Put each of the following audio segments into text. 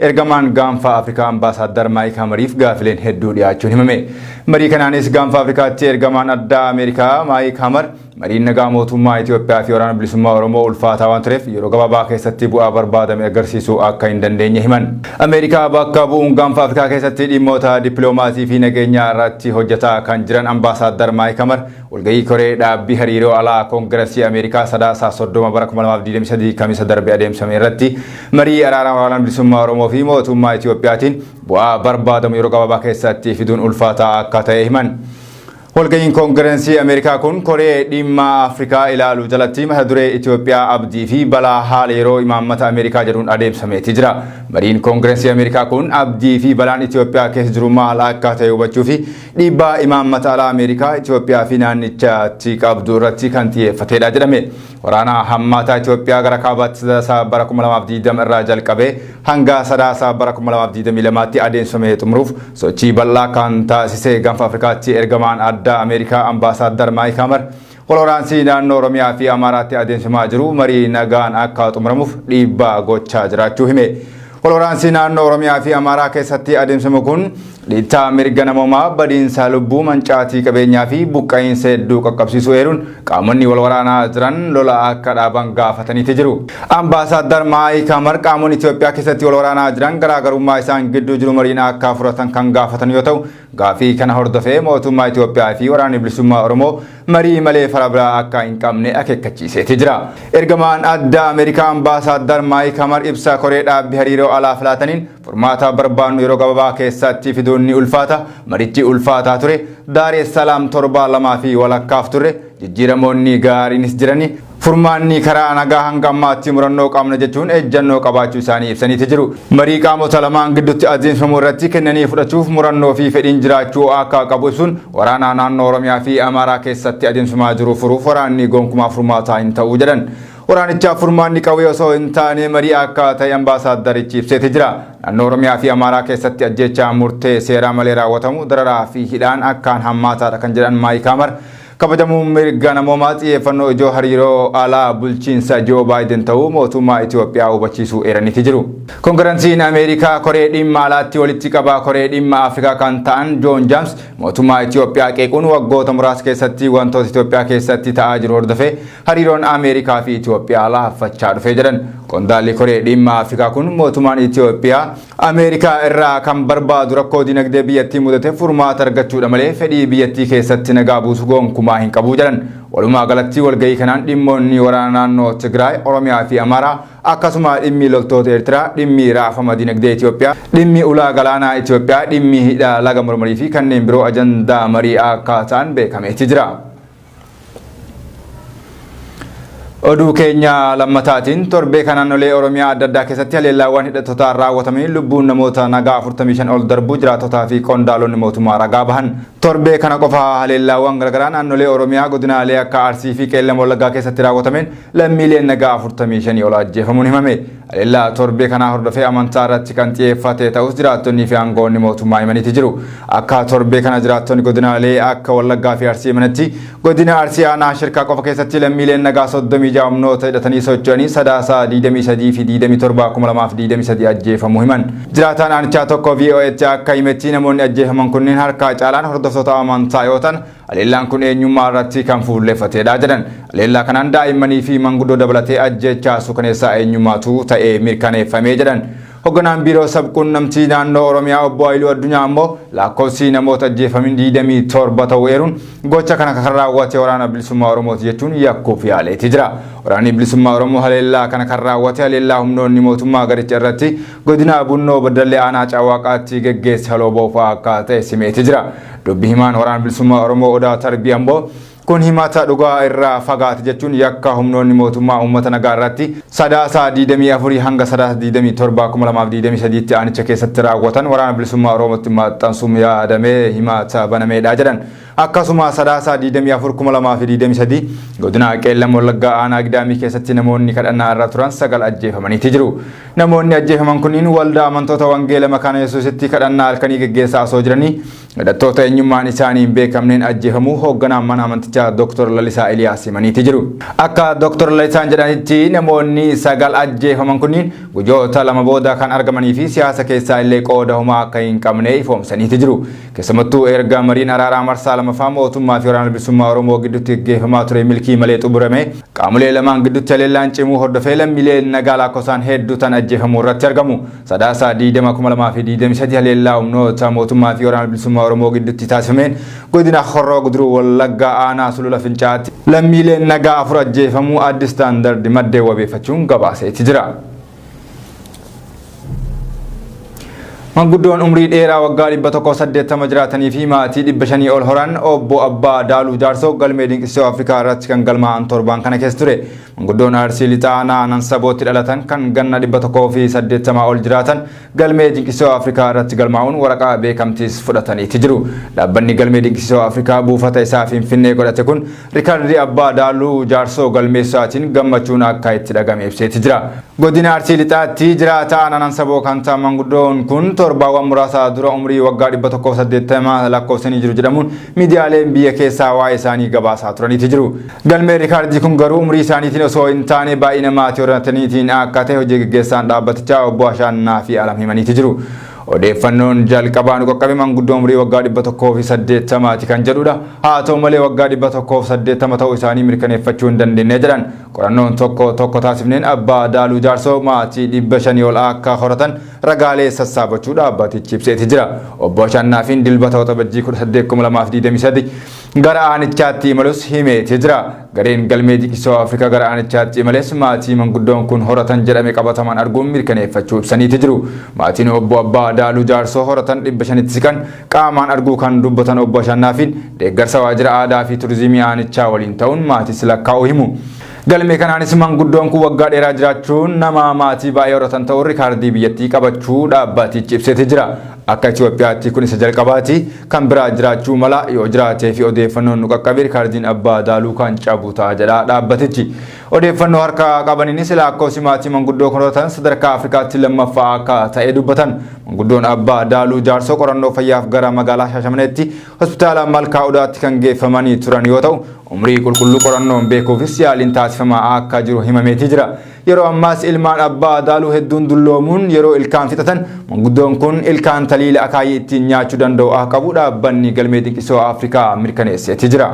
Ergamaan Gaanfa Afrikaa Ambaasaaddar Maayik Hamariif gaafileen hedduu dhiyaachuun himame. Marii kanaanis Gaanfa Afrikaatti ergamaan addaa Ameerikaa Maayik Hamar mariin nagaa mootummaa Itoophiyaa fi Waraana Bilisummaa Oromoo ulfaataa waan tureef yeroo gabaabaa keessatti bu'aa barbaadame agarsiisuu akka hin dandeenye himan. Ameerikaa bakka bu'uun Gaanfa Afrikaa keessatti dhimmoota dippiloomaasii fi nageenyaa irratti hojjetaa kan jiran Ambaasaaddar Maayik Hamar Walgahii koree dhaabbii hariiroo alaa Koongirasii Ameerikaa Sadaasa 30 bara 2023 Kamisa darbe adeemsame irratti marii araara waraana bilisummaa Oromoo fi mootummaa Itiyoophiyaatiin bu'aa barbaadamu yeroo gabaabaa keessatti fiduun ulfaataa akka ta'e himan. Walgahiin Koongirensii Ameerikaa kun koree dhimma Afrikaa ilaalu jalatti mata duree Itiyoophiyaa abdii fi balaa haala yeroo imaammata Ameerikaa jedhuun adeemsameeti jira. Mariin Koongirensii Ameerikaa kun abdii fi balaan Itiyoophiyaa keessa jiru maal akka ta'e hubachuu fi Dhiibbaa imaammata alaa Ameerikaa Itoophiyaa fi naannichatti qabdu irratti kan xiyyeeffatedha jedhame. Waraana hammaataa Itoophiyaa gara kaabaatti sadaasa bara 2020 irraa jalqabee hanga sadaasa bara 2022tti adeemsifame xumuruuf sochii bal'aa kan taasise Gaanfa Afrikaatti ergamaan addaa Ameerikaa ambaasaaddar Maayik Hamar Walwaraansii naannoo Oromiyaa fi Amaaraatti adeemsimaa jiru marii nagaan akka xumuramuuf dhiibbaa gochaa jiraachuu hime. Walwaraansii naannoo Oromiyaa fi Amaaraa keessatti adeemsimu kun dhiittaa mirga namoomaa, badiinsa lubbuu, mancaatii qabeenyaa fi buqqa'iinsa hedduu qaqqabsiisuu eeruun qaamonni walwaraanaa jiran lola akka dhaaban gaafataniiti jiru. Ambaasaaddar Maayik Hamar qaamonni Itoophiyaa keessatti walwaraanaa jiran garaagarummaa isaan gidduu jiru mariin akka furatan kan gaafatan yoo ta'u, Gaaffii kana hordofee mootummaa Itoophiyaa fi Waraanni Bilisummaa Oromoo marii malee fala biraa akka hin qabne akeekkachiiseeti jira. Ergamaan addaa Ameerikaa Ambaasaaddar Maayik Hamar ibsa koree dhaabbi hariiroo alaaf laataniin furmaata barbaannu yeroo gababaa keessatti fiduun ni ulfaata, marichi ulfaataa ture, Daareessalaam torbaa lamaa fi walakkaaf turre, Jijjiiramoonni gaariinis jiranii furmaanni karaa nagaa hanga ammaatti murannoo qabna jechuun ejjannoo qabaachuu isaanii ibsaniiti jiru. Marii qaamota lamaan gidduutti adeemsifamu irratti kennanii fudhachuuf murannoo fi fedhiin jiraachuu akka qabu ibsuun waraanaa naannoo Oromiyaa fi Amaaraa keessatti adeemsifamaa jiru furuuf waraanni gonkumaa furmaataa hin ta'u jedhan. Waraanichaaf furmaanni qawwee osoo hin taane marii akka ta'e ambaasaaddarichi ibseeti jira. Naannoo Oromiyaa fi Amaaraa keessatti ajjeechaa murtee seeraa malee raawwatamu dararaa fi hidhaan akkaan hammaataadha kan jedhan Maayik Haamar Kabajamuu mirga namoomaa xiyyeeffannoo ijoo hariiroo alaa bulchiinsa Joo Baayiden ta'uu mootummaa Itoophiyaa hubachiisuu eeraniiti jiru. Kongiransiin Ameerikaa koree dhimma alaatti walitti qabaa koree dhimma Afrikaa kan ta'an Joon Jaams mootummaa Itoophiyaa qeequun waggoota muraasa keessatti wantoota Itoophiyaa keessatti ta'aa jiru hordofee hariiroon Ameerikaa fi Itoophiyaa laaffachaa dhufee jedhan. Qondaalli koree dhimma Afrikaa kun mootummaan Itoophiyaa Ameerikaa irraa kan barbaadu rakkoo dinagdee biyyattii mudate furmaata argachuudha malee fedhii biyyattii keessatti nagaa buusu gonkumaa hin qabu jedhan. Walumaa galatti walgahii kanaan dhimmoonni waraana naannoo Tigraay, Oromiyaa fi Amaaraa akkasuma dhimmi loltoota Eertiraa, dhimmi raafama dinagdee Itoophiyaa, dhimmi ulaa galaanaa Itoophiyaa, dhimmi hidha laga Marmarii fi kanneen biroo ajandaa marii akka ta'an beekameeti jira. Oduu keenya lammataatiin torbee kana naannolee Oromiyaa adda addaa keessatti haleellaawwan hidhattotaan raawwatamanii lubbuun namoota nagaa 45 ol darbuu jiraattotaa fi qondaalonni mootummaa ragaa bahan. Torbee kana qofa haleellaawwan garaagaraa naannolee Oromiyaa godinaalee akka Arsii fi Qeellam Wallaggaa keessatti raawwatameen lammiileen nagaa 45 ol ajjeefamuun himame. Haleellaa torbee kanaa hordofee amantaa irratti kan xiyeeffate ta'us jiraattonnii fi aangawoonni mootummaa himaniiti jiru. Akka torbee kana jiraattonni godinaalee akka Wallaggaa fi Arsii himanitti godina Arsii aanaa Shirkaa qofa keessatti lammiileen nagaa 36 humnoota hidhatanii socho'anii Sadaasa 23 fi 27 2023 ajjeefamuu himan. Jiraataan aanichaa tokko VOAtti akka himetti namoonni ajjeefaman kunneen harkaa caalaan hordoftoota amantaa yoo ta'an Haleellaan kun eenyummaa irratti kan fuulleeffateedha jedhan. Haleellaa kanaan daa'immanii fi manguddoo dabalatee ajjeechaa suukaneessaa eenyummaatu ta'ee mirkaneeffamee jedhan. Hogganaan biiroo sabquunnamtii naannoo Oromiyaa obbo Ayiluu Addunyaa ammoo lakkoofsi namoota ajjeefamin 27 ta'uu eeruun gocha kana kan raawwate waraana bilisummaa Oromooti jechuun yakkuuf yaaleeti jira. Waraanni bilisummaa Oromoo haleellaa kana kan raawwate haleellaa humnoonni mootummaa garicha irratti godina Bunnoo Baddallee Aanaa Caawwaaqaatti geggeesse haloo boofaa akka ta'e simeeti jira. Dubbi himaan Waraana Bilisummaa Oromoo Odaa Tarbii Amboo kun himata dhugaa irraa fagaate jechuun yakka humnoonni mootummaa uummata nagaa irratti Sadaasa 24 hanga Sadaasa 27 2023tti aanicha keessatti raawwatan Waraana Bilisummaa Oromootti maxxansuun yaadamee himata banameedha jedhan. Akkasuma Sadaasa 24 2023 godina Qeellam Wallaggaa aanaa Gidaamii keessatti namoonni kadhannaa irra turan sagal ajjeefamaniiti jiru. Namoonni ajjeefaman kunniin waldaa amantoota wangeela makaana Yesuusitti kadhannaa halkanii geggeessaa osoo jiranii hidhattoota eenyummaan isaanii hin beekamneen ajjeefamuu hoogganaan mana amantichaa Dr. Lalisaa Eliyaas himaniiti jiru. Akka Dr. Lalisaan jedhanitti namoonni sagal ajjeefaman kunniin gujoota lama booda kan argamanii fi siyaasa keessaa illee qooda homaa akka hin qabne ifoomsaniiti jiru. Keessamattuu erga mariin araaraa marsaa lamaffaa mootummaa fi waraana bilisummaa Oromoo gidduutti gaggeeffamaa ture milkii malee xumurame qaamolee lamaan gidduutti haleellaan cimuu hordofee lammiileen nagaa laakkofsaan hedduu tan ajjeefamuu irratti argamu. Sadaasa 20,2023 haleellaa humnoota mootummaa fi waraana bilisummaa Oromoo gidduutti taasifameen godina Horroo Guduruu Wallaggaa aanaa Sulula Fincaatti lammiileen nagaa afur ajjeefamuu Addis Standard maddeen wabeeffachuun gabaaseeti jira. Manguddoon umrii dheeraa waggaa 180 jiraatanii fi maatii 500 ol horan obbo Abbaa Daaluu Jaarsoo galmee dinqisiisoo Afrikaa irratti kan galmaa'an torbaan kana keessa ture. Manguddoon Arsii Lixaa Aanaa Nansabootti dhalatan kan ganna 180 ol jiraatan Galmee Dinqisiisoo Afrikaa irratti galmaa'uun waraqaa beekamtiis fudhataniiti jiru. Dhaabbanni Galmee Dinqisiisoo Afrikaa buufata isaa Finfinnee godhate kun Rikardii Abbaa Daaluu Jaarsoo galmeessuusaatiin gammachuun akka itti dhagame ibseeti jira. Godina Arsii Lixaatti jiraataa aanaa Nansaboo kan ta'an manguddoon kun torbaawwan muraasa dura umrii waggaa 180 lakkoofsanii jiru jedhamuun miidiyaaleen biyya keessaa waa'ee isaanii gabaasaa turaniiti jiru. Galmee riikaardii kun garuu umrii isaaniitiin osoo hin taane baay'ina maatii horrataniitiin akka ta'e hojii gaggeessaan dhaabbatichaa obbo Ashaannaafi Alam himaniiti jiru. Odeeffannoon jalqabaa nu qaqqabe manguddoo umrii waggaa 180ti kan jedhudha. Haa ta'u malee waggaa 180 ta'uu isaanii mirkaneeffachuu hin dandeenye jedhan. Qorannoon tokko tokko taasifneen abbaa Daaluu Jaarsoo maatii 500 ol akka horatan ragaalee sassaabachuu dhaabbatichi ibseeti jira. Obbo Ashaannaafiin Dilbata Waxabajjii 18, 2023 Gara aanichaatti imalus himeeti jira. Gareen galmee diqisoo Afrikaa gara aanichaatti imales maatii manguddoon kun horatan jedhame qabatamaan arguun mirkaneeffachuu ibsaniiti jiru. Maatiin Obbo Abbaa Adaaluu Jaarsoo horatan 500tti siqan qaamaan arguu kan dubbatan Obbo Ashannaafiin, deeggarsa waajjira aadaa fi turizimii aanichaa waliin ta'uun maatiis lakkaa'uu himu. Galmee kanaanis manguddoon kun waggaa dheeraa jiraachuun nama maatii baay'ee horatan ta'uun rikaardii biyyattii qabachuu dhaabbatichi ibseeti jira. Akka Itoophiyaatti kun isa jalqabaati. Kan biraa jiraachuu mala, yoo jiraatee fi odeeffannoon nu qaqqabe rikardiin abbaa daaluu kan cabu ta'a jedha dhaabbatichi. Odeeffannoo harka qabaniinis laakkoofsi maatii manguddoo koratan sadarkaa Afrikaatti lammaffaa akka ta'e dubbatan. Manguddoon abbaa daaluu jaarsoo qorannoo fayyaaf gara magaalaa Shaashamaneetti hospitaala Malkaa Odaatti kan geeffamanii turan yoo ta'u, umrii qulqulluu qorannoon beekuufis yaaliin taasifamaa akka jiru himameetii jira. Yeroo ammaas ilmaan abbaa adaaluu hedduun dulloomuun yeroo ilkaan fixatan manguddoon kun ilkaan taliila akaayii ittiin nyaachuu danda'u ah qabu dhaabbanni galmee dinqisoo Afrikaa mirkaneesseeti jira.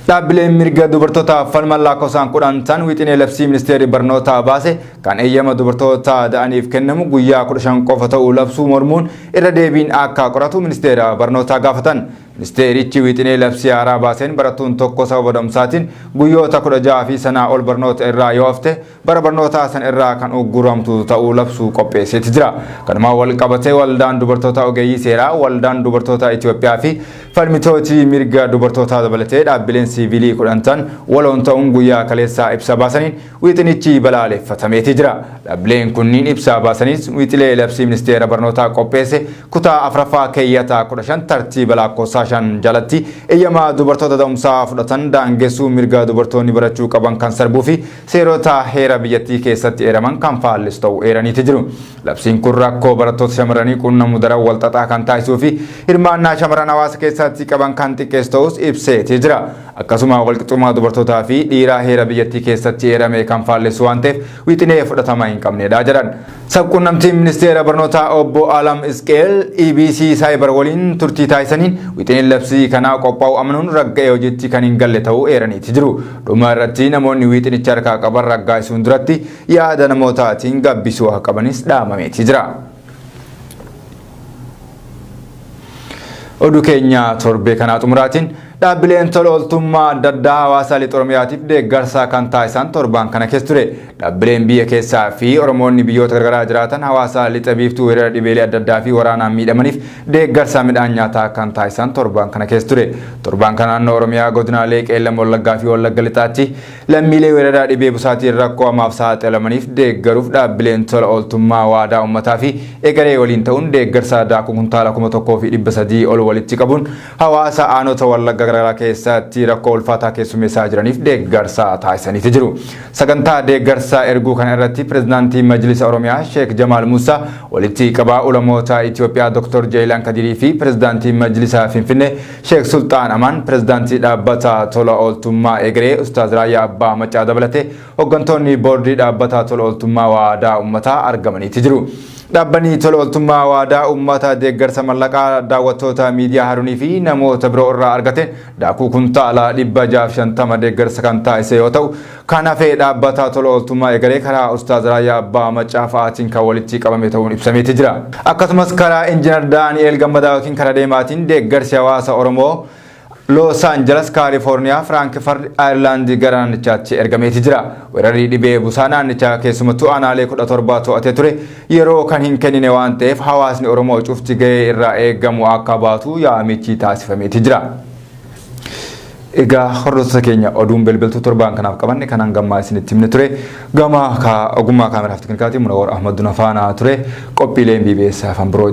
Dhaabbileen mirga dubartootaaf falman lakkoofsaan kudhan tan wixinee labsii ministeerri barnootaa baase kan eeyyama dubartoota da'aniif kennamu guyyaa kudha shan qofa ta'uu labsuu mormuun irra deebiin akka qoratu ministeera barnootaa gaafatan. Ministeerichi wixinee labsii haaraa baaseen barattuun tokko sababa da'umsaatiin guyyoota 16 fi sanaa ol barnoota irraa yoo hafte bara barnootaa san irraa kan ugguramtu ta'uu labsuu qopheesseeti jira. Kanumaan wal qabatee Waldaan Dubartoota Ogeeyyii Seeraa, Waldaan Dubartoota Itiyoophiyaa fi falmitooti mirga dubartootaa dabalatee dhaabbileen siiviilii 10 ta'an waloon ta'uun guyyaa kaleessaa ibsa baasaniin Wixinichi balaaleffatameeti jira. Dhabbileen kunniin ibsaa baasaniis wixilee labsii ministeera barnootaa qopheesse kutaa 4ffaa keeyyata 15 tartiiba laakkoofsaa 5 jalatti eyyama dubartoota da'umsaa fudhatan daangessuu mirga dubartoonni barachuu qaban kan sarbuu fi seerota heera biyyattii keessatti eeraman kan faallessu ta'uu eeraniiti jiru. Labsiin kun rakkoo barattoota shamarranii qunnamu daran walxaxaa kan taasisuu fi hirmaannaa shamarran hawaasa keessatti qaban kan xiqqeessu ta'uus ibseeti jira. akkasuma walqixxummaa dubartootaa fi dhiiraa heera biyyattii keessatti eerame kan faallessu waan ta'eef wixinee fudhatama hin qabnedha jedhan. Sabquunnamtiin Ministeera Barnootaa Obbo Alam Isqeel EBC Saayibar waliin turtii taasisaniin wixineen labsii kanaa qophaa'u amanuun ragga'ee hojiitti kan hin galle ta'uu eeraniiti jiru. Dhuma irratti namoonni wixinicha harkaa qaban raggaasisuun duratti yaada namootaatiin gabbisuu akka qabanis dhaamameeti jira. Oduu keenya torbee kanaa xumuraatiin dhaabbileen tola ooltummaa adda addaa hawaasaa lixa Oromiyaatiif deeggarsaa kan taasisan torbaan kana keessa ture. Dhaabbileen biyya keessaa fi Oromoonni biyyoota garagaraa jiraatan hawaasaa lixa biiftuu weerara dhibeelee adda addaa fi waraanaan miidhamaniif deeggarsaa midhaan nyaataa kan taasisan torbaan kana keessa ture. Torbaan kana naannoo Oromiyaa godinaalee Qeellam Wallaggaa fi Wallagga Lixaatti Lammiilee weeraraa dhibee busaatiin rakkoo hamaaf saaxilamaniif deeggaruuf dhaabbileen tola ooltummaa waadaa ummataa fi egeree waliin ta'uun deeggarsa daakuu kuntaala 1300 ol walitti qabuun hawaasa aanota Wallagga garaagaraa keessatti rakkoo ulfaataa keessummeessaa jiraniif deeggarsa taasisaniiti jiru. Sagantaa deeggarsa erguu kana irratti Pireezidaantii Majlisa Oromiyaa Sheek Jamaal Muusaa, walitti qabaa ulamoota Itoophiyaa Dr. Jeeyilaan Kadirii fi Pireezidaantii Majlisa Finfinnee Sheek Sulxaan Amaan, Pirezidaantii Dhaabbata Tola Ooltummaa Egeree, Ustaaz Raayyaa Abbaa Maccaa dabalatee hoggantoonni Boordii Dhaabbata Tola Ooltummaa Waadaa Ummataa argamaniiti jiru. Dhaabbanni Tola Ooltummaa Waadaa Ummataa deeggarsa mallaqaa daawwattoota Miidiyaa Harunii fi namoota biroo irraa argateen daakuu kuntaala 650 deeggarsa kan taasise yoo ta'u, Kan hafe dhaabbata tola ooltummaa eegalee karaa Ustaaz Raayyaa Abbaa Maccaa fa'aatiin kan walitti qabame ta'uun ibsameeti jira. Akkasumas karaa Injinar Daani'eel Gammadaa ykn karaa deemaatiin deeggarsi hawaasa Oromoo Loos Anjalas, Kaalifoorniyaa, Firaankifard, Ayerlaand gara naannichaatti ergameeti jira. Weerarri dhibee busaa naannichaa keessumattuu aanaalee 17 to'atee ture yeroo kan hin kennine waan ta'eef hawaasni Oromoo cufti gahee irraa eegamu akka baatu yaamichi taasifameeti jira. Egaa hordoftoota keenya oduun belbeltuu torbaan kanaaf qabanne kan hanga ammaa isinitti himne ture. Gama ogummaa kaameraaf teknikaatiin Munawar Ahmad Duna faana ture. Qophiileen BBS afaan biroo.